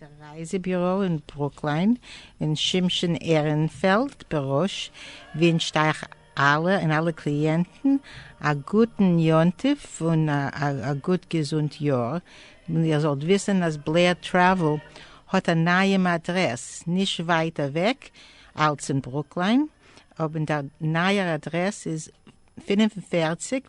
דער רייזע ביוראו אין ברוקליין און שמשון עהרענפעלד בראש ווינטשט אייך אלע און אלע קליענטן א גוטן יום טוב און א גוט געזונט יאר, און איר זאלט וויסען אז בלעיר טרעוועל האט א נייעם אדרעס נישט ווייט אוועק אלץ אין ברוקליין אבער דער נייער אדרעס איז פֿינף און פֿערציק.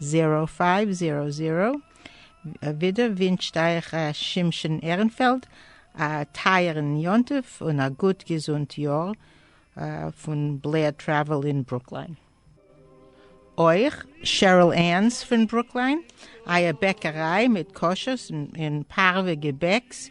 זעראו פייוו זעראו זעראו, ווידער ווינטשט אייך ר' שמשון עהרענפעלד א טייערען יום טוב און א גוט געזונט יאר פון בלער טרעוועל אין ברוקליין. אויך שעריל ען'ס פון ברוקליין, אייער בעקעריי מיט כשר'ס און פארווע געבעקס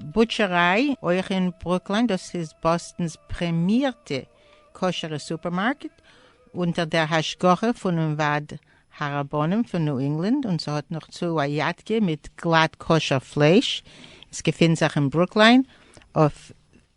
בוטשעריי, אויך אין ברוקלין, דאס איז באסטן'ס פרעמירטע כשר'ע סופערמארקעט, אונטער דער השגחה פונעם ועד הרבנים פון ניו אינגלענד, און ס'האט נאך צו א יאטקע מיט גלאט כשר פלייש, עס געפינט זיך אין ברוקלין אויף.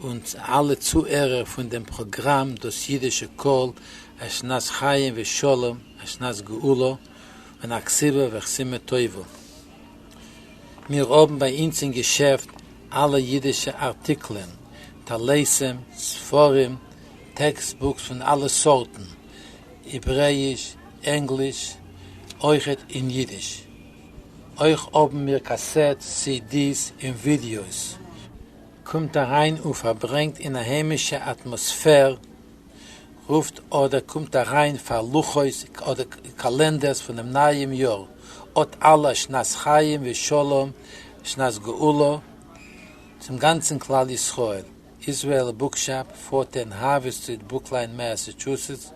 אונז אלע צוהערער פון דעם פראגראם דאס אידישע קול, א שנת חיים ושלום, א שנת גאולה, און א כסלו וחסימה טובה. מיר האבן ביי אונז אין געשעפט אלע אידישע ארטיקלען, טליתים, ספרים, טעקסט בוקס פון אלע סארטן, העברעיש, ענגליש, אויכעט אין אידיש. אויך האבן מיר קאסעטס, סי די'ס, און ווידיאוס. קומט אריין און פארברענגט אין א היימישע אטמאספער, רופט אדער קומט אריין פאר לוחות אדער קאלענדערס פונעם נייעם יאר, אות אלע שנת חיים ושלום שנת גאולה צום גאנצן כלל ישראל, איזרעאל בוקשאפ, פארטען האווי סטריט ברוקליין מעסעטשוסעטס,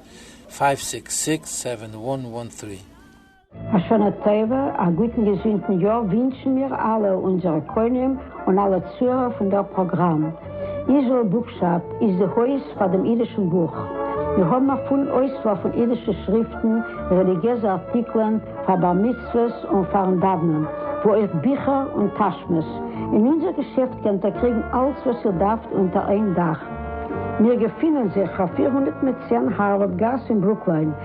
פייוו סיקס סיקס סעווען וואן וואן טרי. א שנה טובה, א גוטן געזונטן יאר ווינטשן מיר אלע, אונזערע קונים און אלע צוהערער פון דער פראגראם. איזראעל בוקשאפ איז די הויז פאר דעם אידישן בוך. מיר האבן א פולן אויסוואל פון אידישע שריפטן, רעליגיעזע ארטיקלען פאר בר מצוות און פאר'ן דאוונען, וואו אויך ביכער און טאשמעס. אין אונזער געשעפט קענט איר קריגן אלץ וואס איר דארפט אונטער איין דאך. מיר געפינען זיך אויף פֿיר הונדערט צען הארווארד גאס אין ברוקלין.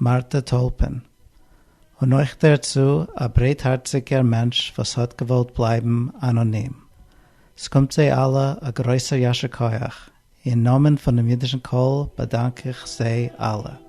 מארטא טולפען, און אויך דערצו א ברייטהארציגער מענטש וואס האט געוואלט בלייבן אנאנים. ס'קומט זיי אלע א גרויסער ישר כח, אין נאמען פונעם אידישן קול באדאנק איך זיי אלע.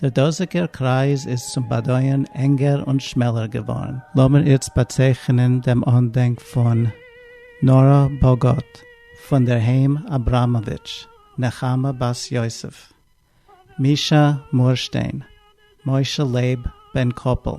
דער דאָזיקער קרײַז איז צום באַדױען ענגער און שמעלער געװאָרן. לאָמיר איצט באַצײכענען דעם אָנדענק פֿון נאָראַ באָגאָט, פֿון דער הײם אַבראַמאָװיטש, נחמה בת-יוסף, מישאַ מורשטײן, משה-לײב בן-קאָפּל,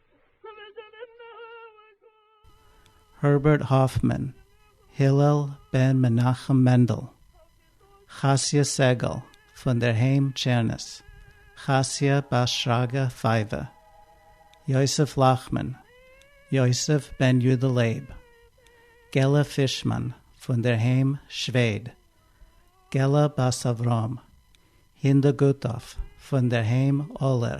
הערבערט האפמאן, הלל בן מנחם מענדל, חסיה סגל פון דער היים טשערנעס, חסיה בת שרגא פייווע, יוסף לאכמאן, יוסף בן יודא לייב, געלע פישמאן פון דער היים שוועד, געלע בת אברהם, הינדא גוטאף פון דער היים אולער,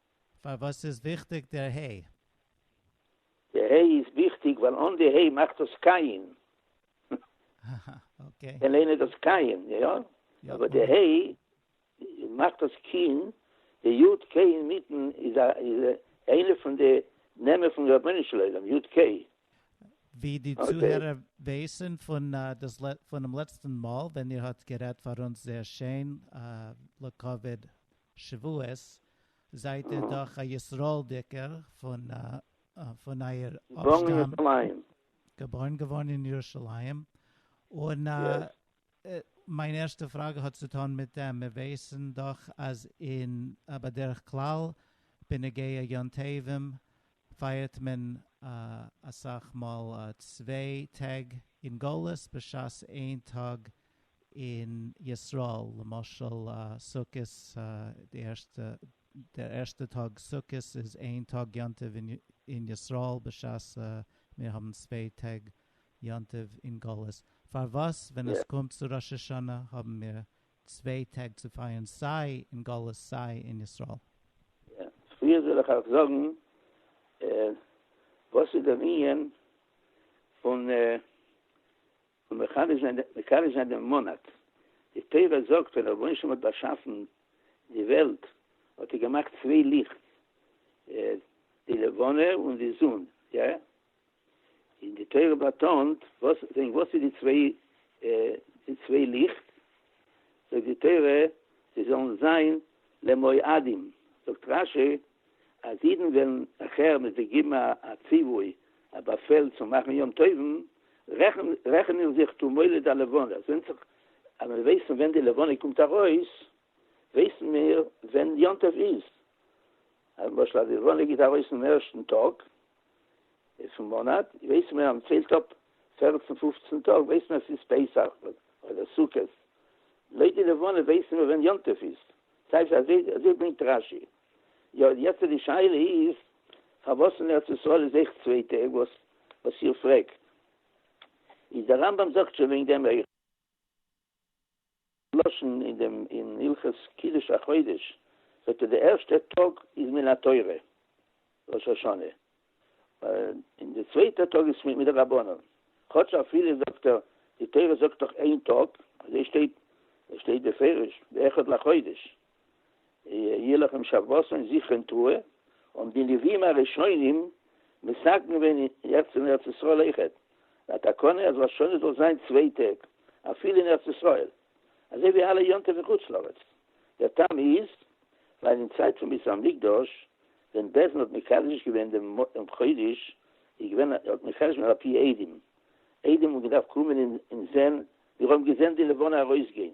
פארוואס איז וויכטיג דער ה'? די ה' איז וויכטיג ווייל אן די ה' מאכט דאס קייען. קען איינער דאס קייען? יא. אבער די ה' מאכט דאס קייען. די יו ט קעי אינמיטן איז איינע פון די נעמען פון רבונו של עולם, יו ט קעי. ווי די צוהערער ווייסן פונעם לעצטן מאל ווען איר האט גערעדט פאר אונז זייער שיין לכבוד שבועות, זייט איר דאך א ישראל'דיגער פון פון אייער אפשטאם. געבוירן געווארן אין ירושלים. און מיין ערשטע פראגע האט צו טון מיט דעם, מיר ווייסן דאך אז אין בדרך כלל בנוגע יום טובים פייערט מען אסאך מאל צוויי טעג אין גלות בשעת איין טאג אין ישראל, למשל סוכות די ערשטע דער ערשטע טאג סוכות איז איין טאג יום טוב אין ישראל בשעת מיר האבן צוויי טעג יום טוב אין גלות, פארוואס ווען עס קומט צו ראש השנה האבן מיר צוויי טעג צו פייערן סיי אין גלות סיי אין ישראל. יא, צופרי זאל איך אייך זאגן וואס איז דער ענין פון מקדש זיין דעם מאנאט. די תורה זאגט ווען רבונו של עולם האט באשאפן די וועלט האט ער געמאכט צוויי ליכט, די לבנה און די זון. און די תורה באטאנט וואס זענען וואס איז די צוויי די צוויי ליכט, זאגט די תורה זיי זאלן זיין למועדים, זאגט רש י אז אידן וועלן נאכער מען זיי געבן א ציווי א באפעל צו מאכן יום טובים רעכענען זיך תו מולד הלבנה, עס ווענדט זיך אז מיר ווייסן ווען די לבנה קומט ארויס ווייסן מיר ווען יום טוב איז, למשל אז די לבנה גייט ארויס אום ערשטן טאג איז פון מאנאט ווייסן מיר אז מען ציילט אפ פערצן פופצן טאג ווייסן מיר אז ס'איז פסח אדער סוכות, לויט די לבנה ווייסן מיר ווען יום טוב איז, ס'הייסט אזוי אזוי ברענגט רש י, יא יעצט די שאלה איז פארוואס אין ארץ ישראל איז אויך צוויי טעג וואס וואס איר פרעגט איז די רמב ם זאגט שוין וועגן דעם אויך. לשון אין דעם אין הלכות קידוש החודש זאגט ער די ערשטע טאג איז מן התורה ראש השנה און די צווייטע טאג איז מדרבנן כאטש אפילו זאגט ער די תורה זאגט דאך איין טאג אזוי שטייט עס שטייט בפירוש ואחד לחודש ילך עם שבתו און זיך קען תרועה, האבן די נביאים הראשונים מסכם געווען יעצט אין ארץ ישראל אויכעט א תקנה אז ראש השנה זאל זיין צוויי טעג אפילו אין ארץ ישראל אזוי ווי אלע יום טוב אין חוץ לארץ, דער טעם איז ווייל אין צייט פון בית המקדש ווען בעסד האט מקדש געווען דעם חודש איז געווען האט מקדש געווען אפי' עדים, עדים האבן געדארפט קומען און זען, מיר האבן געזען די לבנה ארויסגיין.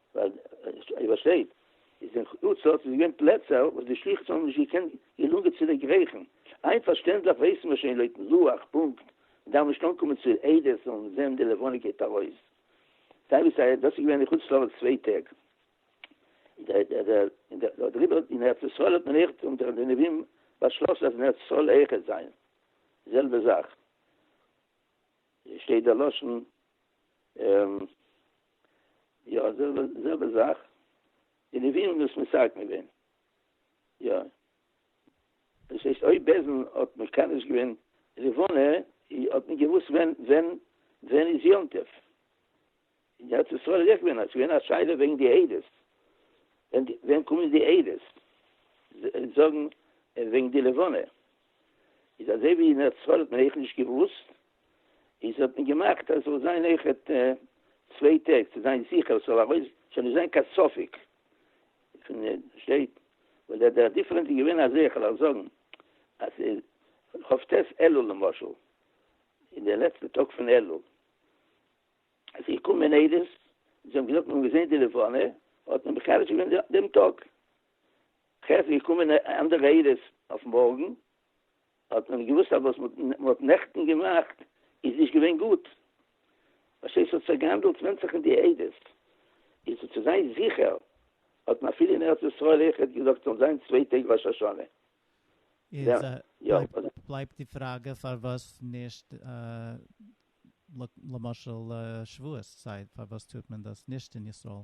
ווייל ווי עס שטייט איז אין חוץ לארץ איז געווען פלעצער וואס די שלוחים האבן נישט געקענט געלונגען צו דערגרייכן, איין פארשטענדליך ווייסן מיר שוין לויטן לוח פונקט, מען דארף נישט אנקומען צו עדות און זען די לבנה גייט ארויס, סיי ווי סיי דאס איז געווען אין חוץ לארץ צוויי טעג, און דעריבער אין ארץ ישראל האט מען עכט אונטער די נביאים באשלאסן אז אין ארץ ישראל אויך עט זיין די זעלבע זאך, שטייט דער לשון יא זעלבע זעלבע זאך די נביאים האבן דאס מסרקן געווען יא דאס הייסט אויב בעלזן האט מקדש געווען לבנה האט מען געוואוסט ווען ווען ווען איז יום טוב אין ארץ ישראל איז אויך געווען אז ווען א שאלה וועגן די עדות ווען ווען קומען די עדות זאגן וועגן די לבנה איז אזוי ווי אין ארץ ישראל האט מען אויך נישט געוואוסט איז האט מען געמאכט אז ס'זאל זיין אויכעט צוויי טעג צו זיין זיכער ס'זאל ארויס ס'זאל נישט זיין קיין ספק פון שטייט ווייל דער דיפרענס איז געווען אזוי כ'וועל אייך זאגן אז כ ט אלול למשל אין די לעצטע טאג פון אלול איז געקומען עדות זיי האבן געזאגט מ'האט געזען די לבנה האט מען מחדש געווען דעם טאג כ ט איז געקומען אנדערע עדות אויף מארגן האט מען געוואוסט אז וואס מען האט נעכטן געמאכט איז נישט געווען גוט, בשעת ס'האט זיך געהאנדלט ווען זיך אין די עדות, איז צו זיין זיכער האט מען אפילו אין ארץ ישראל אויך געזאגט זאל זיין צוויי טעג ראש השנה. איז בלייבט די פראגע פארוואס נישט למשל שבועות צייט פארוואס טוט מען דאס נישט אין ישראל?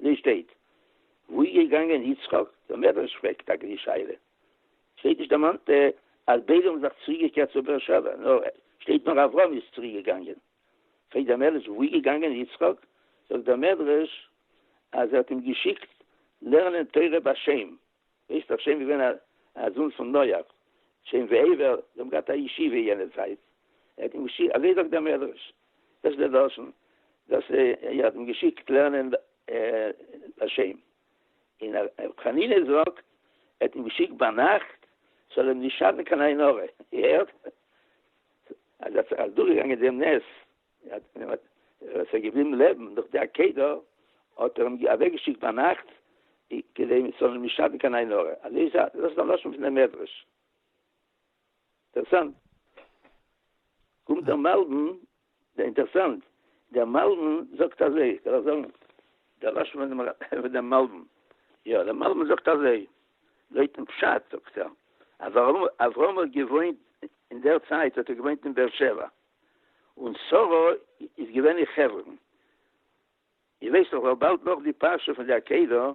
די שטייט וואו איז געגאנגען יצחק? דער מדרש פרעגט טאקע די שאלה, שטייט נישט דערמאנט אז ביידע האבן זיך צוריק געקערט צו באר שבע, נאר שטייט נאר אברהם איז צוריק געגאנגען, פרעגט דער מדרש וואו איז געגאנגען יצחק? זאגט דער מדרש אז ער האט אים געשיקט לערנען תורה ביי שם, איז דאך שם געווען א א זון פון נח, שם ועבר, זיי האבן געהאט א ישיבה יענע צייט, ער האט אים געשיקט, אזוי זאגט דער מדרש, דאס איז דער דרשן, דאס ער האט אים געשיקט לערנען ביי שם, און ר' חנינא זאגט ער האט אים געשיקט ביינאכט ס'זאל אים נישט שאטן קיין עין הרע, איר הערט? אז ער האט זיך אז דורכגעגאנגען דעם נס. עס איז געבליבן לעבן דורך די עקידה, האט ער אים אוועק געשיקט ביינאכט כדי מען זאל אים נישט שאטן קיין עין הרע, אזוי איז דאס איז א לשון פון די מדרש. אינטערסאנט. קומט דער מלבן, דער אינטערסאנט, דער מלבן זאגט אזוי, איך וועל זאגן דער לשון פון דעם מלבן, יא דער מלבן זאגט אזוי, לויטן פשט זאגט ער אז אברהם האט געוואוינט, אין דער צייט האט ער געוואוינט אין באר שבע, און שרה איז געווען אין חברון. איר ווייסט דאך ווייל באלד נאך די פרשה פון די עקידה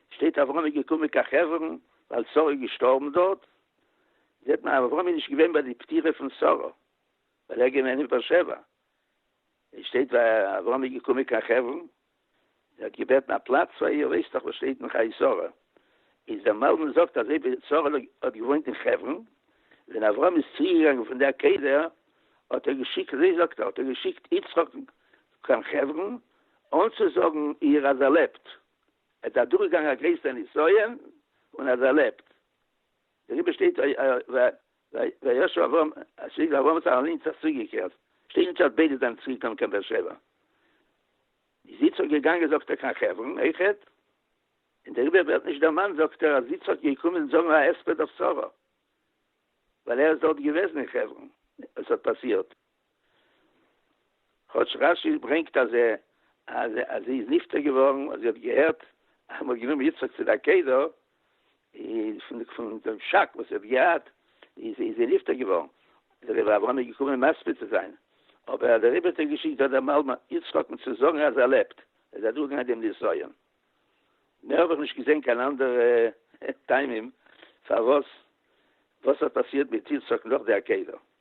שטייט אברהם איז געקומען קיין חברון ווייל שרה איז געשטארבן דארט, זעט מען אז אברהם איז נישט געווען ביי די פטירה פון שרה ווייל ער איז געווען אין באר שבע, עס שטייט ווייל אברהם איז געקומען קיין חברון, ער האט געבעטן א פלאץ פאר איר, ווייסט דאך וואס שטייט אין חיי שרה, איז דער מלמד זאגט אז אויב שרה האט געוואוינט אין חברון, ווען אברהם איז צוריקגעגאנגען פון די עקדה האט ער געשיקט, אזוי זאגט ער, האט ער געשיקט יצחק קיין חברון אנצוזאגן איר אז ער לעבט, ער איז אדורכגעגאנגען א גרעסערע נסיון און אז ער לעבט. דעריבער שטייט וישוב אברהם צוריק ווייל אברהם האט זיך אליינס אויך צוריקגעקערט, שטייט נישט אז ביידע זענען צוריק געקומען קיין באר שבע. איז יצחק געגאנגען זאגט ער קיין חברון אויכעט, און דעריבער ווערט נישט דערמאנט זאגט ער אז יצחק איז געקומען זאגן א הספד אויף שרה, ווייל ער איז דארט געוועזן אין חברון ווען עס האט פאסירט. כאטש רש י ברענגט אז אז זי איז נפטר געווארן אז זי האט געהערט אז מען האט גענומען יצחק צו די עקידה, איז פון פון דעם שאק וואס זי האט געהאט איז איז זי נפטר געווארן, איז רבי אברהם געקומען מסביר צו זיין, אבער דער רבי האט אים געשיקט דארט דעם אלמן יצחק'ן צו זאגן אז ער לעבט, ער איז אדורכגעגאנגען דעם נסיון. מער האב איך נישט געזען קיין אנדערע טעמים פארוואס וואס האט פאסירט מיט יצחק נאך די עקידה.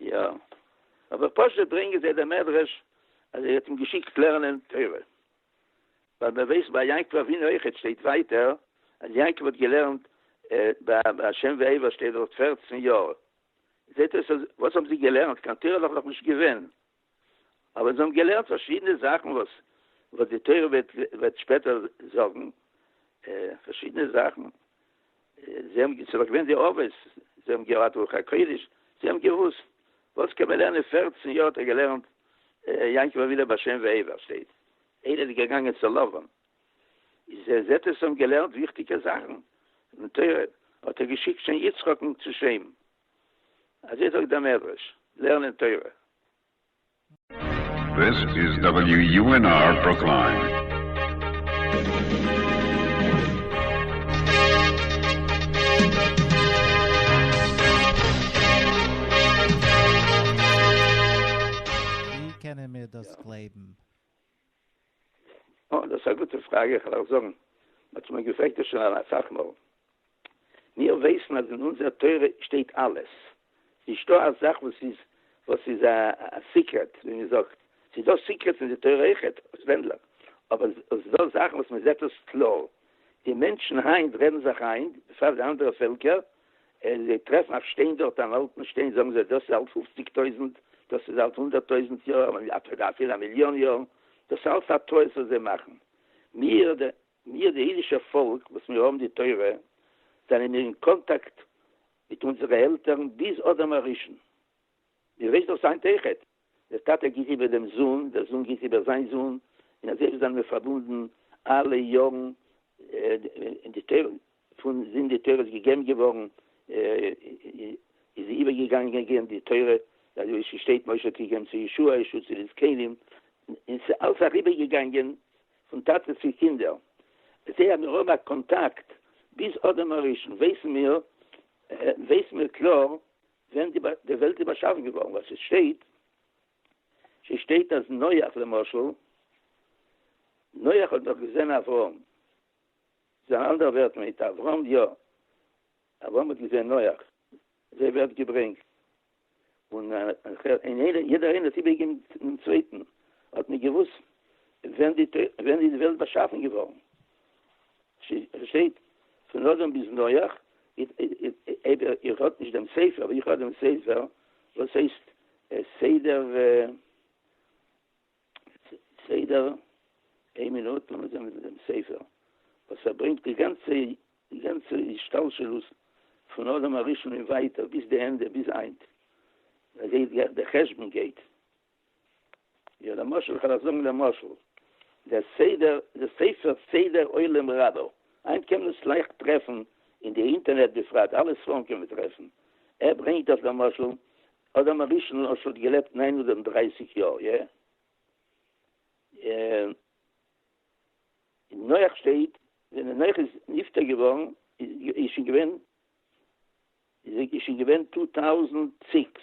יא, אבער פשוט ברענגען זיי דעם מדרש אז ער האט אים געשיקט לערנען תורה, ווייל מען ווייסט ביי יעקב אבינו אויכעט שטייט ווייטער אז יעקב האט געלערנט ביי השם ועבר שטייט דארט פֿערצן יאר, זעט אויס אז וואס האבן זיי געלערנט, קיין תורה איז דאך נאכנישט געווען, אבער זיי האבן געלערנט פארשידענע זאכן וואס וואס די תורה וועט שפעטער זאגן פארשידענע זאכן, זיי האבן ס'איז דאך געווען די אבות, זיי האבן געהאט רוח הקודש, זיי האבן געוואוסט וואס קען מען לערנען, פֿערצן יאר האט ער געלערנט יעקב אבינו בשם ועבר, שטייט איינער איז געגאנגען צו לבן, איז ער זעט אז זיי האבן געלערנט וויכטיגע זאכן, און תורה, האט ער געשיקט שוין יצחק'ן צו שעם. אזוי זאגט דער מדרש, לערנען תורה. This is WUNR Brookline. ווי קענען מיר דאס גלייבן? אה, דאס איז א גוטע פראגע, איך וועל אייך זאגן, מען האט מיר געפרעגט דאס שוין אסאך מאל. מיר ווייסן אז אין אונזער תורה שטייט אלעס, נישטא א זאך וואס איז וואס איז א סיקרעט, ווי מען זאגט, ס'איז דא סיקרעטס אין די תורה אויכעט, אויסווענדליך, אבער ס'איז דא זאכן וואס מען זעט עס קלאר. די מענטשן היינט רעדן זיך איין, בפרט די אנדערע פעלקער, און זיי טרעפן א שטיין דארט, אן אלטן שטיין, זאגן זיי, דאס איז אלט פופציג טויזנט, דאס איז אלט הונדערט טויזנט יאר, אפילו א מיליאן יאר. דאס איז אלעס א טעות וואס זיי מאכן. מיר, מיר די אידישע פאלק וואס מיר האבן די תורה, זענען מיר אין קאנטאקט מיט אונזערע עלטערן ביז אדם הראשון. איר ווייסט דאָך זײַן טעכעט. דער טאַטע גיט איבער דעם זון, דער זון גיט איבער זײַן זון, און אַזוי זײַנען מיר פֿאַרבונדן אַלע יאָרן. און די תּורה פֿון זון, די תּורה איז געגעבן געוואָרן, איז זי איבערגעגאַנגען די תּורה, אַזוי ווי ס'שטייט, משה האָט געגעבן צו יהושע, יהושע צו די זקנים, און ס'איז אַלץ אַריבערגעגאַנגען פֿון טאַטע צו קינדער. אַזוי אַז מיר האָבן אַ קאָנטאַקט ביז אָדם הראשון, ווייסן מיר, ווייסן מיר קלאָר, ווען די וועלט איז באשאפן געווארן, ווייל ס'שטייט, ס'שטייט אז נח למשל, נח האט דאך געזען אברהם, ס'איז אן אנדערע ווערטער מיט אברהם יא, אברהם האט געזען נח, אזוי ווערט געברענגט, און יעדער איינער האט איבערגעגעבן דעם צווייטן, האט מען געוואוסט ווען די וועלט באשאפן געווארן. שטייט פון אדם ביז נח, איידער איר האט נישט דעם ספר, אבער איך האב דעם ספר וואס הייסט סדר, סדר, איין מינוט לאמיר זען וואס איז דעם ספר, וואס ער ברענגט די גאנצע, די גאנצע השתלשלות פון אדם הראשון און ווייטער ביז די ענדע ביז היינט, מען זעט ווי די חשבון גייט, יא למשל איך וועל אייך זאגן למשל די סדר די ספר סדר עולם רבא היינט קען מען עס לייכט טרעפן אין די אינטערנעט בפרט אלע ספרים קען מען טרעפן ער ברענגט אז למשל אדם הראשון למשל האט געלעבט נײַן הונדערט און דרײַסיק יאר יע און נח שטייט ווען נח איז נפטר געווארן איז שוין געווען איז שוין געווען טו טאוזענד סיקס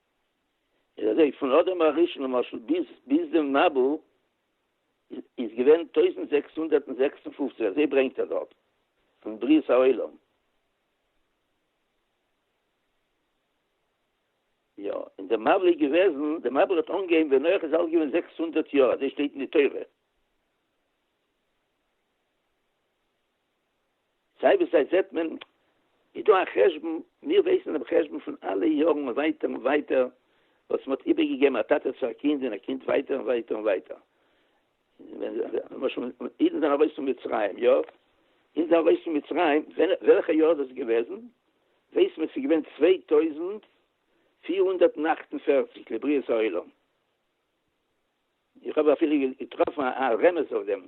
איז אזוי פון אדם הראשון למשל ביז ביז דעם מבול איז געווען טויזנט זעקס הונדערט און זעקס און פֿופֿציק אזוי ברענגט ער דארט פון בריאת העולם. יא און די מבול איז געוועזן די מבול האט אנגעהויבן ווען נח איז אלט געווען זעקס הונדערט יאר אזוי שטייט אין די תורה. סיי ווי סיי זעט מען איז דא א חשבון, מיר ווייסן דעם חשבון פון אלע יארן ווייטער און ווייטער וואס מ'האט איבערגעגעבן א טאטע צו א קינד און א קינד ווייטער און ווייטער און ווייטער. למשל אידן זענען ארויס פון מצרים, יא? אידן זענען ארויס פון מצרים, וועלכע יאר איז דאס געוועזן? ווייסט מען ס'איז געווען צוויי טויזנט פֿיר הונדערט און אַכט און פֿערציק לבריאת העולם. איך האב אפילו געטראפן א רמז אויף דעם.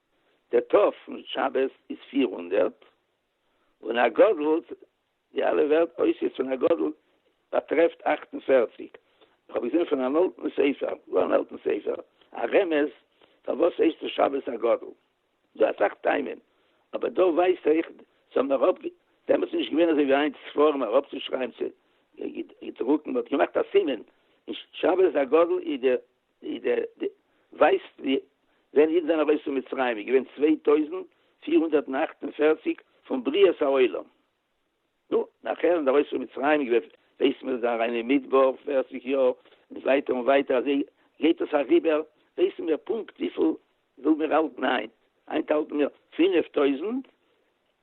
די ת' פון שבת איז פֿיר הונדערט, און הגדלת, די אלע ווערט אויסערס פון הגדלת, באטרעפט אַכט און פֿערציק. איך האב געזען פון אן אלטן ספר, גאר אן אלטן ספר, א רמז פארוואס הייסט עס שבת הגדול. דא אסאך טעמים, אבער דא ווייזט אויך, ס'האב מען אראפ, דעמאלטס איז נישט געווען אזוי ווי היינט ספרים אראפצושרייבן צו געדרוקן, מ'האט געמאכט א סימן, שבת הגדול איז די די די די ווייסט ווי ווען אידן זענען ארויס פון מצרים איז געווען צוויי טויזנט פֿיר הונדערט און אַכט און פֿערציק פון בריאת העולם נו נאכער זענען ארויס פון מצרים איז געווען ווייסט מען זיי אריין אין מדבר פֿערציק יאר און ווייטער און ווייטער אזוי גייט עס אריבער ווייסן מיר פונקט וויפיל וויל מיר האלטן היינט היינט האלטן מיר פֿינף טויזנט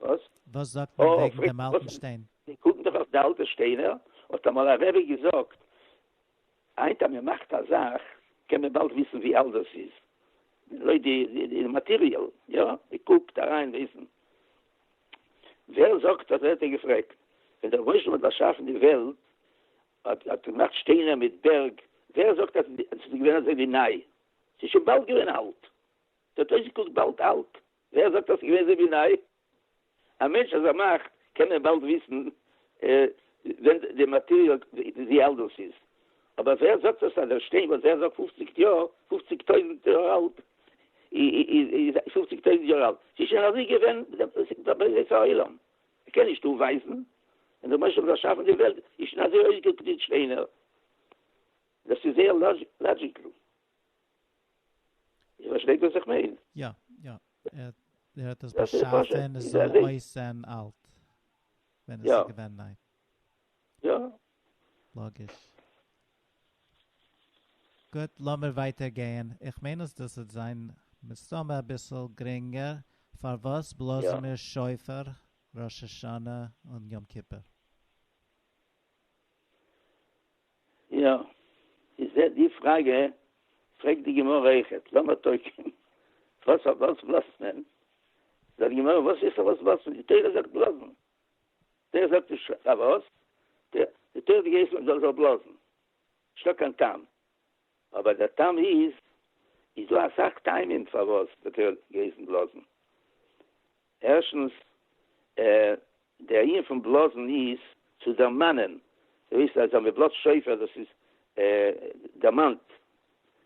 וואס? וואס זאגט מען וועגן דעם אלטן שטיין? זיי קוקן דאך אויף די אלטע שטיינער, האט אמאל א רבי געזאגט, היינט אז מען מאכט א זאך קען מען באלד וויסן ווי אלט דאס איז, לויט די מאטעריעל, יא, מען קוקט אריין וויסן. ווער זאגט אז האט ער געפרעגט, ווען דער מושל האט באשאפן די וועלט, האט ער געמאכט שטיינער מיט בערג, ווער זאגט אז עס איז געווען אזוי ווי ניי? עס איז שוין באלד געווען אלט, עס האט אויסגעקוקט באלד אלט. ווער זאגט אז ס'איז געווען אזוי ווי ניי? א מענטש אז ער מאכט קען ער באלד וויסן ווען די מאטעריאל ווי אלט דאס איז, אבער ווער זאגט אז דער שטיין וואס ווער זאגט פופציג יאר, פופציג טויזנט יאר אלט, איז פופציג טויזנט יאר אלט? ס'איז שוין אזוי געווען בבריאת העולם, מ'קען נישט אויפווייזן ווען דער משה האט באשאפן די וועלט איז שוין אזוי אויסגעקוקט די שטיינער, דאס איז זייער לאדזשיקל. איר פארשטייט וואס איך מיין? יא, יא. ער האט עס באשאפען עס זאל אויסזען אלט ווען עס איז געווען ניי. יא. לאגיש. גוט, לאמיר ווייטער גייען. איך מיין אז דאס וועט זיין מסתמא אביסל גרינגער. פארוואס בלאזן מיר שופר ראש השנה און יום כיפור? יא, איז ע די פראגע פרעגט די גמרא אויכעט, למה תוקעים, וואס פאר וואס בלאזט מען? זאגט די גמרא, וואס איז פארוואס בלאזט מען? די תורה זאגט בלאזן, די תורה זאגט נישט פארוואס, די תורה האט געהייסן מען זאל בלאזן, נישט דא קיין טעם, אבער דער טעם איז, איז דא אסאך טעמים פארוואס די תורה האט געהייסן בלאזן, ערשטנס, דער ענין פון בלאזן איז צו דערמאנען, דו ווייסט אז ווען מען בלאזט שופר דאס איז דערמאנט,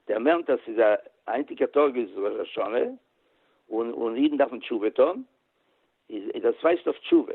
דערמענט אז ס'איז א היינטיגע טאג איז ראש השנה און און אידן דארפן תשובה טון, איז דאס ווייזט אויף תשובה.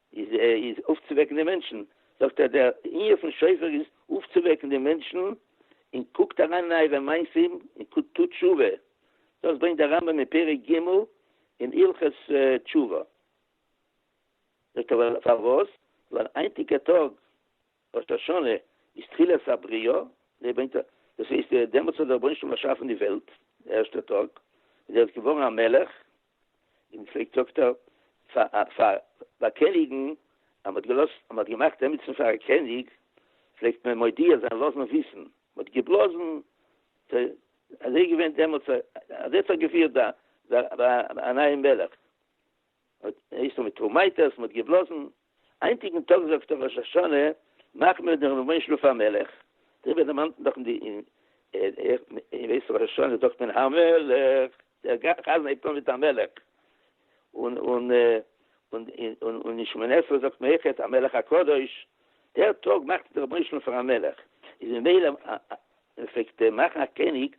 איז איז אויפצווועקן די מענטשן, זאגט ער דער ענין פון שופר איז אויפצווועקן די מענטשן, און קוקט אריין אין אייערע מעשים און טוט תשובה, דאס ברענגט דער רמב ם אין פרק ג' אין הלכות תשובה. זאגט ער פארוואס? ווייל היינטיגע טאג ראש השנה איז תחילת הבריאה, דער ברענגט א, דאס הייסט דעמאלטס האט דער רבונו של עולם באשאפן די וועלט, די ערשטע טאג, און ער איז געווארן א מלך, און פרעגט דאקטאר פאר ביי קעניגן אז מ'האט געלאזט אז מ'האט געמאכט עמיצן פאר א קעניג פלעגט מען מודיע זיין לאזן וויסן מ'האט געבלאזן ט אזוי געווען דעמאלטס אזוי האט זיך געפירט ביי ביי א נייעם מלך הייסט עס מיט טראמייטערס מ'האט געבלאזן היינטיגן טאג זאגט אויף ראש השנה מאכן מיר דעם רבי'ן שלו' המלך, דעריבער דערמאנט מען דאך אין וועסט ראש השנה זאגט מען המלך, דער חזן הייבט אן מיט המלך, און אין שמונה עשרה זאגט מען אויכעט המלך הקדוש, דער טאג מאכט דער רבי'ן שלו' פאר א מלך, איז ממילא ווען מען פלעגט מאכן א קעניג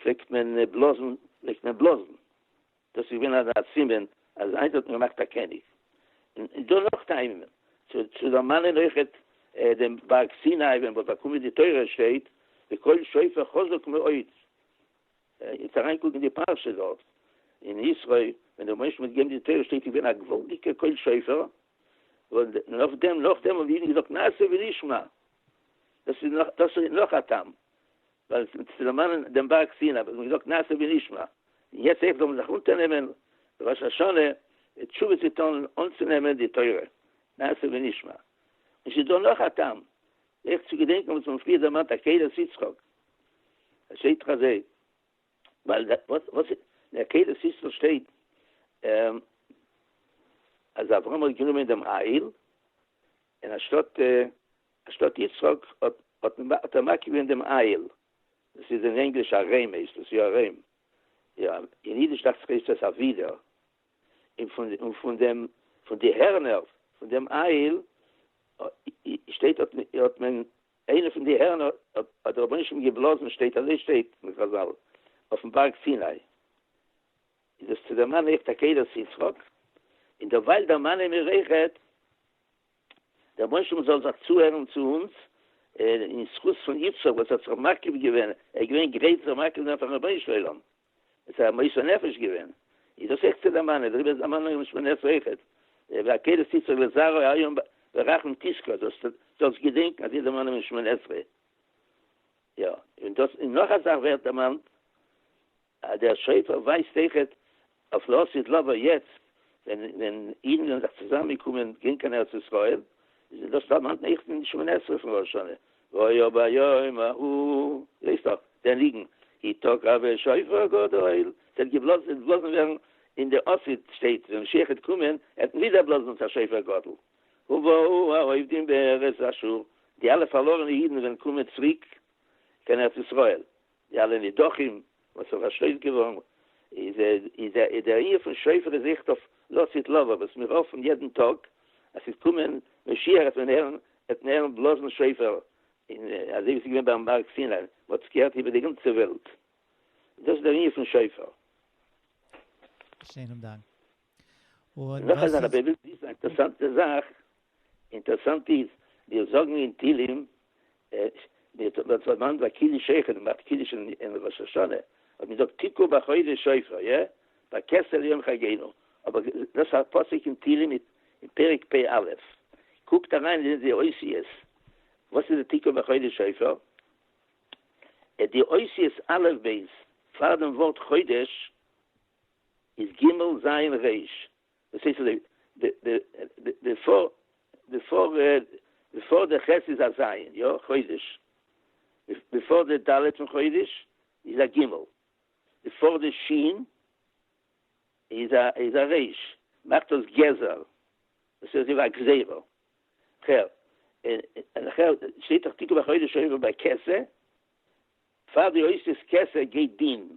פלעגט מען בלאזן, דאס איז געווען אזא סימן אז היינט האט מען געמאכט א קעניג. און דא נאך טעמים צו דערמאנען אויכעט דעם בארג סיני ווען מ'האט באקומען די תורה שטייט וקול שופר חזק מאוד. יעצט אריינקוקן די פרשה דארט אין יתרו ווען דער משה האט געגעבן די תורה שטייט איז געווען א געוואלדיגע קול שופר און נאכדעם נאכדעם האבן די אידן געזאגט נעשה ונשמע. דאס איז נאך דאס איז נאך א טעם ווייל עס צו דערמאנען דעם בארג סיני האט מען געזאגט נעשה ונשמע, און יעצט אויך זאל מען זיך אונטערנעמען ראש השנה מיט תשובה צו טון אנצונעמען די תורה נעשה ונשמע. און ס'איז דא נאך א טעם אויך צו געדענקען וואס מיר האבן פריער דערמאנט עקידת יצחק, עס שטייט דאך אזוי ווייל די וואס אין עקידת יצחק שטייט אז אברהם האט גענומען דעם אייל און אנשטאט אנשטאט יצחק האט ער מקיף געווען דעם איל, דאס איז אין ענגליש ארעם הייסט עס, יא ארעם, אין אידיש דאכט זיך הייסט עס אבידער, און פון דעם פון די הערנער פון דעם איל שטייט האט מען איינע פון די הערנער האט דער רבונו של עולם געבלאזן שטייט אזוי שטייט אין חזל אויפן בארג סיני, איז דאס צו דערמאנען אויך עקדת יצחק, און דערווייל דערמאנען מיר אויכעט. די רבונו של עולם זאל זיך צוהערן צו אונז, אין זכות פון יצחק וואס האט זיך מקריב געווען, ער איז געווען גרייט זיך מקריב זיין פארן רבונו של עולם, עס איז א מוסר נפש געווען, איז דאס אויך צו דערמאנען, דעריבער איז דערמאנונג אין משמר נפש אויך, ועקדת יצחק לזרעו היום ברחמים תשקוד, זאלסט זאלסט געדענקען אזוי דערמאנען אין משמר נפש, יא, און דאס און נאך א זאך ווערט דערמאנט. דער שופר ווייזט אויכעט אויף לא עשית לבו יעצט ווען ווען אידן זענען זיך צוזאם געקומען גיין קיין ארץ ישראל איז דאס דערמאנט אויכט אין שמונה עשרה פון ראש השנה והיה ביום ההוא ווייסט דאך דער ניגון כי תקע בשופר גדול ס'העט געבלאזן ס'העט געבלאזן ווערן אין די עשית שטעט ווען משיח העט קומען עט מען ווידער בלאזן ס ה שופר גדול ובאו האובדים בארץ אשור די אלע פארלארענע אידן וועלן קומען צוריק קיין ארץ ישראל די אלע נידחים וואס איז פארשלעפט געווארן איז איז איז דער עיר פון שופר איז זיכט אויף לא תית לבא וואס מיר האפן יעדן טאג אז ס'וועט קומען משיח וועט מען הערן וועט מען הערן בלאזן שופר אין אזוי ווי ס'איז געווען ביים בארג סיני מען האט עס געהערט איבער די גאנצע וועלט דאס איז דער עיר פון שופר. שענעם דאנק. און נאך אזא רבי וויל וויסן א אינטערסאנטע זאך. אינטערסאנט איז, מיר זאגן אין תהילים, ווען ס'האט מיינט ביי קידוש שכן, מען מאכט קידוש אין ראש השנה, האט מען געזאגט תקעו בחודש שופר, יא? ביי כסלו יום חגינו, אבער דאס א פסוק אין תהילים אין פרק פ א, קוקט אריין אין די אותיות, וואס איז די תקעו בחודש שופר? די אותיות א' ב' פאר דעם ווארט חודש איז ג' ז' ר', דאס הייסט אז די די די די פאר די פאר די פאר די ח' איז א ז', יא, חודש, די פאר די ד' פון חודש איז א ג', די פאר די ש' איז א איז א ר', מאכט דאס גזר, דאס איז ווי א גזירה, כ'הער, און איך הער, שטייט דאך תקעו בחודש אויב ביי כסא, פאר די עושה כסא גייט דין,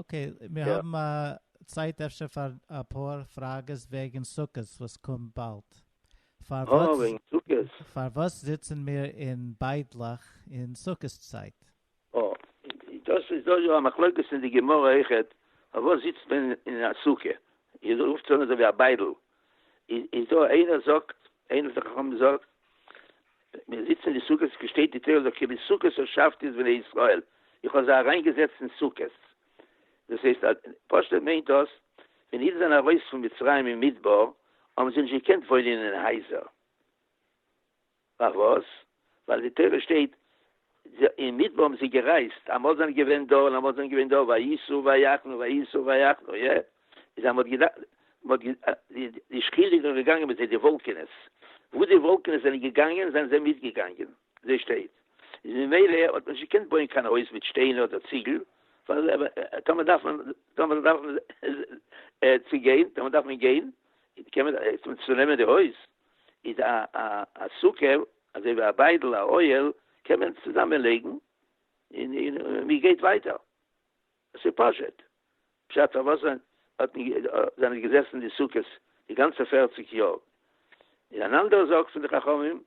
אקעי, מיר האבן א צייט אפשר פאר אפאר פראגעס וועגן סוכות וואס קומט באלד. אה, וועגן סוכות. פארוואס זיצן מיר אין ביידלעך אין סוכות צייט? אה, דאס איז דא יא א מחלוקת אין די גמרא אויכעט, פארוואס זיצט מען אין א סוכה, איר רופטס אן אזויווי א ביידל, איז דא איינער זאגט, איינער פון די חכמים זאגט, מיר זיצן אין די סוכות, געשטעט די תורה זאגט כי בסוכות הושבתי את בני ישראל, איך האב זיי אריין געזעצט אין סוכות, דאס הייסט אז פשטות מיינט דאס, ווען אידן זענען ארויס פון מצרים אין מדבר, האבן זיי נישט געקענט וואוינען אין הייזער, פארוואס? ווייל די תורה שטייט אין מדבר האבן זיי גערייזט, אמאל זענען געווען דא און אמאל זענען געווען דא, וייסעו ויחנו וייסעו ויחנו, איא? איז אז מ'האט געדארפט, די שכינה איז דאך געגאנגען מיט זיי, די וואלקענעס, וואו די וואלקענעס זענען געגאנגען זענען זיי מיטגעגאנגען, זיי שטייט, איז ממילא האט מען נישט געקענט בויען קיין הויז מיט שטיינער אדער ציגל, ווייל טאמער דארף מען, טאמער דארף מען צו גיין, טאמער דארף מען גיין, קען מען, צו נעמען די הויז, איז א א א סוכה אזוי ווי א ביידל א אוהל קען מען צוזאמען לייגן אין אין מען גייט ווייטער ס'איז פשוט פשט פארוואס זענען האט מען זענען געזעסן די סוכות די גאנצע פערציג יאר אין אן אנדערע זאג פון די חכמים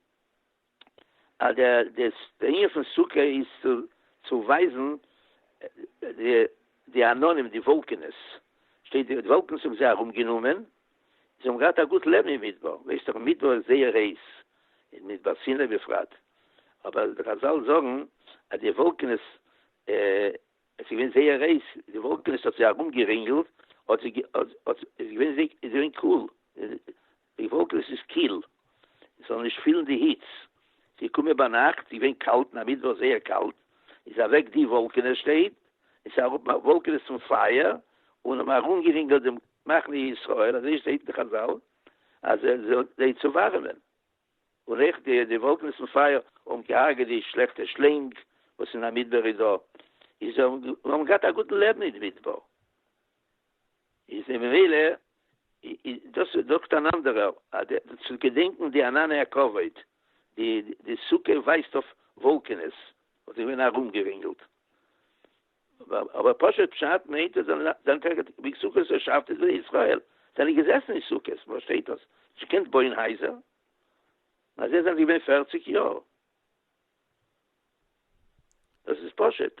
אז די די ענין פון סוכה איז צו צו ווייזן די די עננים די וואלקענעס, שטייט די וואלקענעס האבן זיי ארום גענומען, זיי האבן געהאט א גוט לעבן אין מדבר, ווייסט דאך מדבר איז זייער הייס, אין מדבר סיני בפרט, אבער די חזל זאגן אז די וואלקענעס עס איז געווען זייער הייס, די וואלקענעס האט זיי ארום גערינגלט, האט זיי האט איז געווען זיי איז געווען קאל, די וואלקענעס איז קיל, עס זאל נישט פילן די היץ, עס איז געקומען ביינאכט, איז געווען קאלט אין א מידוואך זייער קאלט, איז אוועק די וואלקענעס שטייט, עס איז אראפ וואלקענעס צום פייער, און האבן ארום גערינגלט דעם מחנה ישראל, אזוי שטייט אין די חזל, אז ער זאל זיי צו ווארעמען, און אויך די די וואלקענעס און פייער האבן געהארגעט די שלעכטע שלענג וואס אין א מדבר איז דא, איז האבן געהאט א גוטן לעבן אין די מדבר. איז אין ממילא דאס זאגט אן אנדערער אז צו געדענקן די ענני הכבוד, די די סוכה ווייזט אויף וואלקענעס וואס זענען געווען ארומגערינגלט, אבער פשוט פשט מיינט אז זיין טעג ווי סוכות און שבתות איז בני ישראל זענען געזעסן אין סוכות, וואו שטייט דאס? נישט געקענט בויען הייזער? אז זיי זענען געווען פֿערציק יאר. דאס איז פשוט.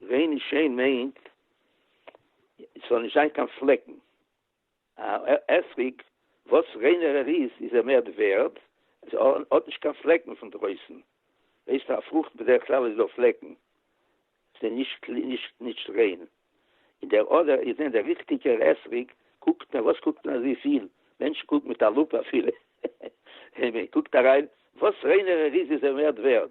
ווען איז שיין מיינט ס'זאל נישט זיין קיין פלעקן, א אתרוג וואס ריינער ער איז איז ער מער ווערד, עס האט נישט קיין פלעקן פון דרויסן, ווייסט א פרוכט בדרך כלל איז דא פלעקן, ס'איז נישט נישט ריין, אין דער אדער איז דען דער ריכטיגער אתרוג קוקט מען וואס קוקט מען אזויפיל, מענטשן קוקן מיט א לופ אפילו, מען קוקט אריין וואס ריינער ער איז איז ער מער ווערד,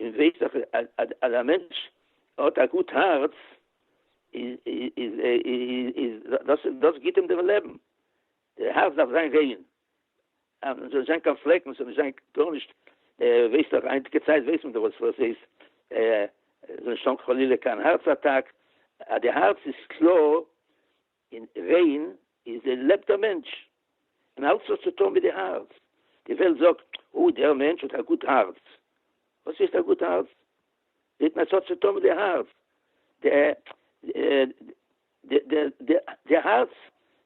און ווייסט אז אז א מענטש האט א גוט הארץ איז איז דאס דאס גיבט אים דעם לעבן, די הארץ דארף זיין ריין אז עס זאל נישט זיין קיין פלעקן עס זאל נישט זיין גארנישט, ווייסט דאך היינטיגע צייט ווייסט מען דאך וואס וואס איז עס זאל נישט האבן חלילה קיין הארץ אטאק, אז די הארץ איז קלאר און ווען איז דען לעבט דער מענטש? און אלץ וואס צו טון מיט די הארץ. די וועלט זאגט, או, דער מענטש האט א גוט הארץ. וואס הייסט א גוט הארץ? זעט מען עס האט צו טון מיט די הארץ. די הארץ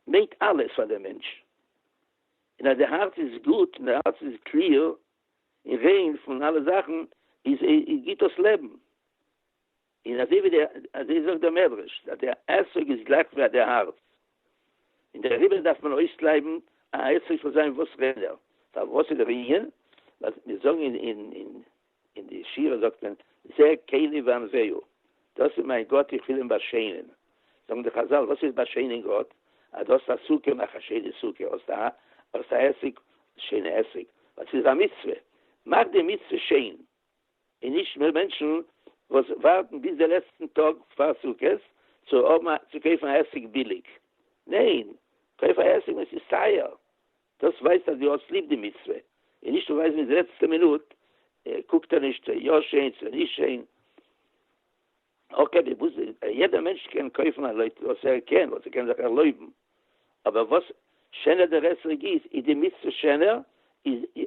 מיינט אלעס פאר דעם מענטש. און אז די הארץ איז גוט, און די הארץ איז קליר און ריין פון אלע זאכן, איז גיט דאס לעבן. און אזוי ווי די אזוי זאגט דער מדרש אז דער עסק איז גלייך ווי דער הארץ און דעריבער דארף מען אויסקלייבן א עסק זאל זיין וואס רענער פארוואס איז דער ענין ווייל מיר זאגן אין אין אין אין די שירה זאגט מען זה כלי ואנזהו דאס איז מיין גאט איך וויל אים באשיינען זאגן די חזל וואס איז באשיינען גאט אז דו האסט א סוכה מאך א שיינע סוכה האסט א האסט א עסק שיינע עסק ווייל ס'איז א מצוה מאך די מצוה שיין און נישט מער מענטשן וואס ווארטן ביז די לעצטן טאג פאר סוכות צו האבן א צו קויפן א עסק ביליג, ניין קויף א עסק ווען ס'איז טייער, דאס ווייזט אז דו האסט ליב די מצוה, און נישט ווייזן ביז די לעצטע מינוט, קוקט ער נישט יא שיין צו נישט שיין, אקעי די בוז יעדער מענטש קען קויפן לויט וואס ער קען וואס ער קען זיך ערלויבן, אבער וואס שענער דער עסק איז איז די מצוה שענער, איז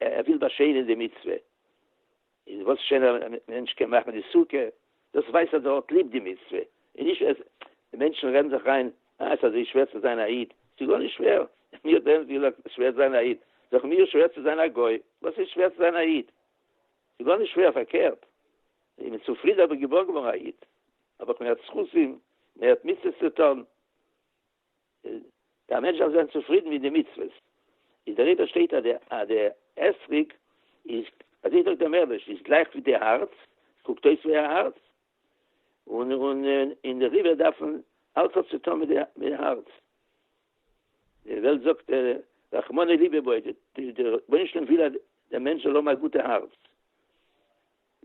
ער וויל באשיינען די מצוה, און וואס שענער א מענטש קען מאכן די סוכה, דאס ווייזט אז ער האט ליב די מצוה, און נישט אז די מענטשן רעדן זיך איין אה עס אזוי שווער צו זיין א איד, ס'איז גארנישט שווער, מי האט ערנסט געזאגט עס שווער צו זיין א איד, זאג מיר שווער צו זיין א גוי, וואס איז שווער צו זיין א איד, ס'איז גארנישט שווער פארקערט, איך בין צופרידן אז כ'בין געבוירן געווארן א איד, האב איך מער זכותים, מער מצוות צו טון, די א מענטש דארף זיין צופרידן מיט די מצוות, איז דער רבי שטייט אז די אתרוג איז, אזוי זאגט דער מהרש, איז גלייך ווי די הארץ, קוקט אויס ווי א הארץ, און אין די ריווער דארפן אלץ האט צו טון מיט די הארץ, די וועלט זאגט רחמנא ליבא בו, די רבונו של עולם וויל אז דער מענטש זאל האבן א גוטע הארץ,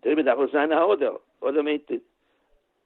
דעריבער דארף ער זיין א הארדער, הארדער מיינט.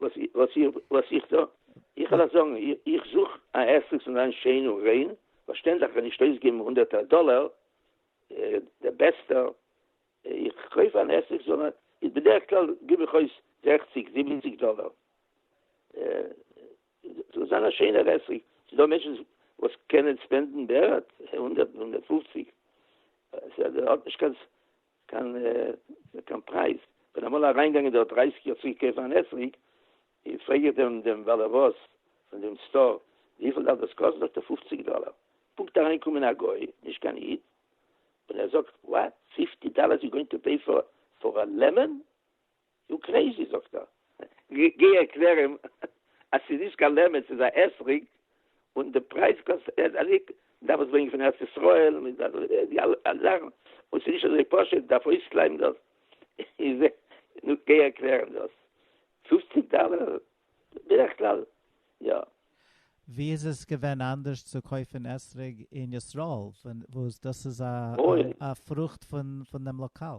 וואס וואס איך וואס איך טו? איך וועל דיר זאגן, איך זוך א עסק זאל זיין שיין און ריין, פארשטענדליך כ'וועל נישט אויסגעבן הונדערטער דאלער, די בעסטע איך קויף אן עסק זאל איז בדרך כלל גיב איך אויס זעכציג זיבעציג דאלער, זאל זיין א שיינער עסק, ס'איז דא מענטשן וואס קענען ספענדן בערך הונדערט הונדערט פופציג, ס'האט נישט קיין קיין קיין פרייז, כ'בין אמאל אריינגעגאנגען דארט דרייסיג יאר צוריק קויפן אן אתרוג, און פרעג איך דעם דעם בעל הבית פון דעם סטאר, וויפיל דארף דאס קאסטן? זאגט ער פופציג דאלער, פונקט אריינגעקומען א גוי, נישט קיין איד, און ער זאגט, וואט? פיפטי דאלער יו גאוינג טו פעי פאר א לעמען? דו קרעיזי זאגט ער, גיי ערקלער אים אז ס'איז נישט קיין לעמען ס'איז א אתרוג און די פרייז קאסט אזויפיל, מ'דארף עס ברענגען פון ארץ ישראל, די אלע זאכן, און ס'איז נישט אזוי פשוט, מ'דארף אויסקלייבן דאס, נו גיי ערקלער אים דאס, פופציג דאלער בדרך כלל, יא. ווי איז עס געווען אנדערש צו קויפן אתרוג אין ישראל וואס דאס איז א פרוכט פון דעם לאקאל?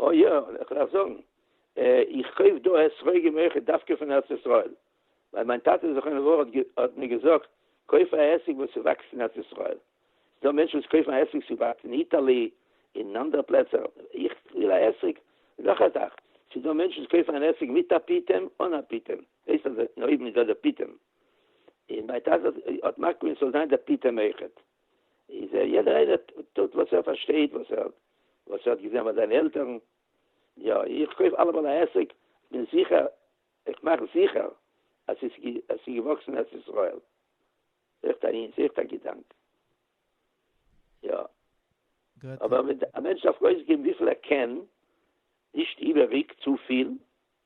אה יא, איך דארף זאגן, איך קויף דא אתרוגים אויכעט דווקא פון ארץ ישראל, ווייל מיין טאטע זכרונו לברכה האט מיר געזאגט, קויף א עסק וואס ס'וואקסט אין ארץ ישראל. ס'דא מענטשן וואס קויפן א עסק ס'וואקט אין איטעלי, אין אנדערע פלעצער, איך וויל א עסק. און נאך א זאך, ס'דא מענטשן וואס קויפן אן עסק מיט א פיטעם, אן א פיטעם, הייסט אז אויבן איז דא דער פיטעם, און מיין טאטע האט מקפיד אז ס'זאל זיין דער פיטעם אויכעט. איז ער יעדער איינער טוט וואס ער פארשטייט וואס ער וואס ער האט געזען ביי זיינע עלטערן, יא איך קויף אלעמאל א עסק כ'בין זיכער איך מאך זיכער אז ס'איז אז ס'איז געוואקסן אין ארץ ישראל, עכט א אינס עכט א געדאנק יא. אבער א מענטש דארף אויסגעבן וויפיל ער קען, נישט איבעריג צופיל.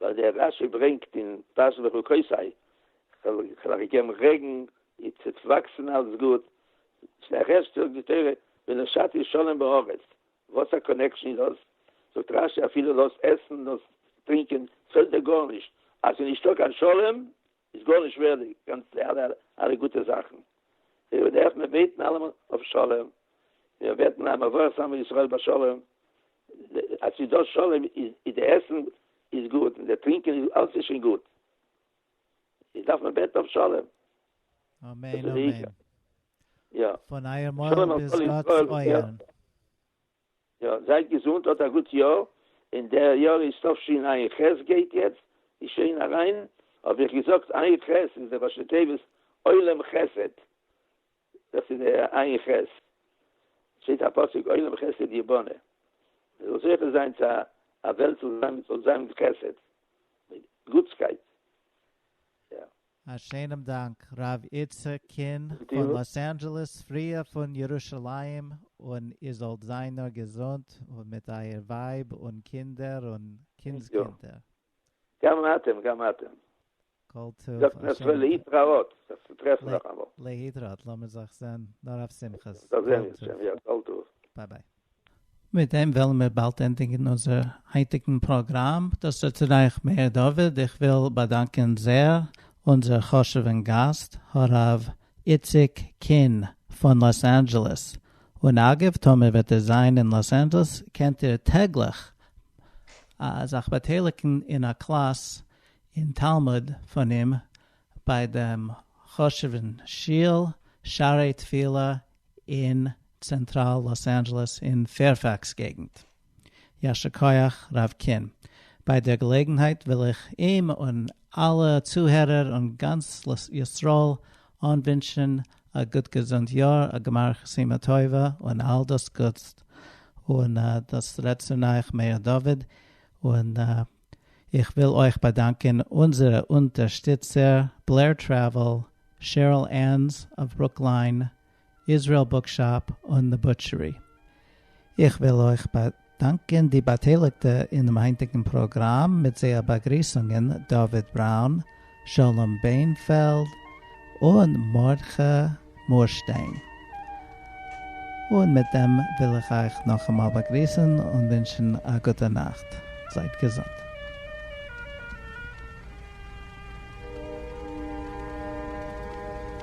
ווייל דער רש י ברענגט אין פרשת לך כוסי כ'האב אייך געגעבן רעגן, איר טוט וואקסן אלץ גוט, צו א רעש זאגט די תורה ונשאתי שלום בארץ, וואס א קאנעקשן איז דאס? זאגט רש י אפילו דאס עסן, דאס טרינקען, פעלט דיר גארנישט, אז ס'איז נישטא קיין שלום, איז גארנישט שווערדיג, גאנץ די אלע אלע גוטע זאכן, ווער דארף מען בעטן אלעמאל אויף שלום, מיר בעטן א מברך שמו ישראל בשלום, אז ס'איז דא שלום איז די עסן איז גוט און די טרינקען איז אלעס איז שוין גוט, איז דארף מען בעטן אויף שלום. אמן אמן. פון אייער מויל ביז גאט'ס אויערן. יא, זייט געזונט, האט א גוט יאר, און דער יאר איז תשפ ע ח גייט יעצט ווי שיין אריין, האב איך געזאגט עין ח' איז דער ראשי תיבות עולם חסד, דאס איז דער עין ח', שטייט א פסוק עולם חסד יבנה, מען זאל זוכה זיין צו א וועלט וואס זאל זיין מיט חסד, מיט גוטסקייט. א שענעם דאנק ר' איצא קין פון לאס אנדזשעלעס פריה פון ירושלים און איר זאלט זיין נאר געזונט און מיט אייער ווייב און קינדער און קינדס קינדער. גם אתם גם אתם. כל טוב. זאגט מען אסאך להתראות, זיך צו טרעפן נאכאמאל. להתראות, לאמיר זיך זען נאר אויף שמחות. ביי ביי. מיט דעם וועלן מיר באלד ענדיגן אונזער היינטיגן פראגראם, דאס איז צו רייך מאיר דוד, איך וויל באדאנקען זעהר אונזער חשוב'ן גאסט הרב איציק קין פון לאס אנדזשעלעס, און אגב טאמער וועט איר זיין אין לאס אנדזשעלעס קענט איר טעגליך זיך באטייליגן אין א קלאס אין תלמוד פון אים ביי דעם חשוב'ן שול שערי תפילה אין צענטראל לאס אנדזשעלעס אין פעירפעקס געגנט. יישר כח ר' קין. ביי דער געלעגנהייט וויל איך אים און אלע צוהערער און גאנץ ישראל אנווינטשן א גוט געזונט יאר, א גמר חתימה טובה און אל דאס גוטס, און דאס רעדט צו נייעך מאיר דוד, און איך וויל אויך באדאנקען אונזערע אונטערשטיצער, בלער טרעוועל, שעריל ענס אוו ברוקליין, איזרעיל בוקשאפ און דע בוטשערי. איך וויל אויך באדאנקען די באטייליגטע אינעם היינטיגן פראגראם מיט זייער באגריסונגען, דוד בראון, שלום בענפעלד און מרדכי מורשטיין. און מיט דעם וויל איך אייך נאכאמאל באגריסן און ווינטשן א גוטע נאכט. זייט געזונט.